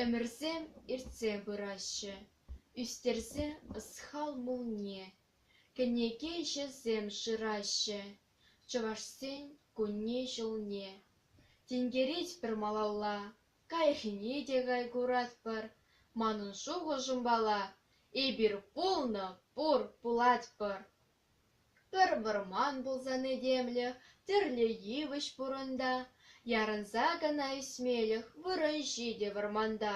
Ӗмӗрсем иртсе пыраҫҫӗ, ӳстерсе ӑсхал мулне, кӗнеке-ҫӗсем шыраҫҫӗ Чӑвашсен кунне-ҫулне. Тинкерет пӗр малалла, Каҫхине те кай куратпӑр, манӑн шухӑшӑмпала, эпир пулнӑ, пур, пулатпӑр. Пӗр вӑрман пулсан этемлӗх тӗрлӗ йывӑҫ пурӑнта, ярӑнса кӑна ӳсмелӗх вырӑн-ҫи те вӑрманта.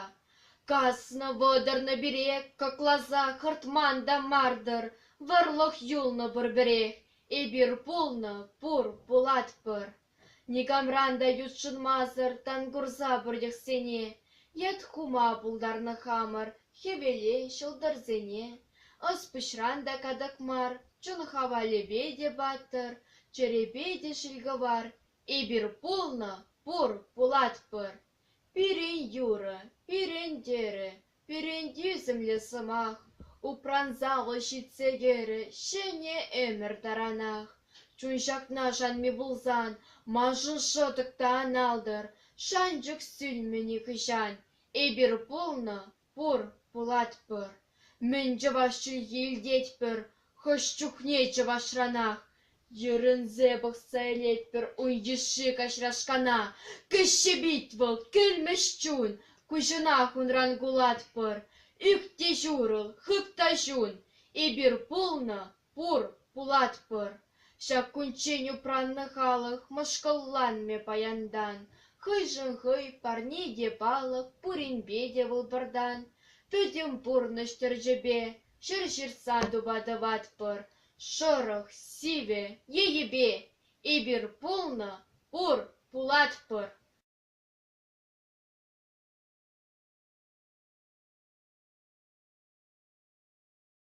Каснӑ-вӑтӑрнӑ пире кӑкласа хӑртман та мар-тӑр, вӑрлӑх юлнӑ пурпӗрех, эпир пулнӑ, пур, пулатпӑр. Никамран та ютшӑнмасӑр тан курса пӗртӗхсене, Йыт хума пултарнӑ хамӑр хӗвеле ҫӑлтӑрсене. Ӑс-пуҫран та катӑк мар, чун хавалӗпе те паттӑр, чӗрепе те ҫилкӑвар. Эпир пулнӑ, пур, пулатпӑр. Пирӗн юрӑ, пирӗн тӗрӗ, Перентӳсӗмлӗ сӑмах упранса вӑл ҫитсе кӗрӗ ҫӗнӗ ӗмӗр таранах. Чун ҫакна шанми пулсан, маншӑн шӑтӑк та ан алтӑр. Шанчӑк сӳнмӗ нихӑҫан. Эпир пулнӑ, пур, пулатпӑр. Мӗн чӑваш чӗлхи илтетпӗр, Хӑш чухне чӑвашранах йӗрӗнсе пӑхса илетпӗр ун йышши каҫрашкана. Кӗҫҫе пит вӑл, кӗлмӗҫ чун, куҫӑнах унран кулатпӑр. Ӳк те ҫурӑл, хып та ҫун, эпир пулнӑ, пур, пулатпӑр. Ҫак кунччен упраннӑ халӑх мӑшкӑлланмӗ паянтан. Хӑйшӗн хӑй, парне те палӑк, пуринпе те вӑл пӗртан. Пӗтӗм пурнӑҫ тӗрчепе, Ҫӗр ҫыртса тупа тӑватпӑр шӑрӑх, сивӗ енӗпе. Эпир пулнӑ, пур, пулатпӑр.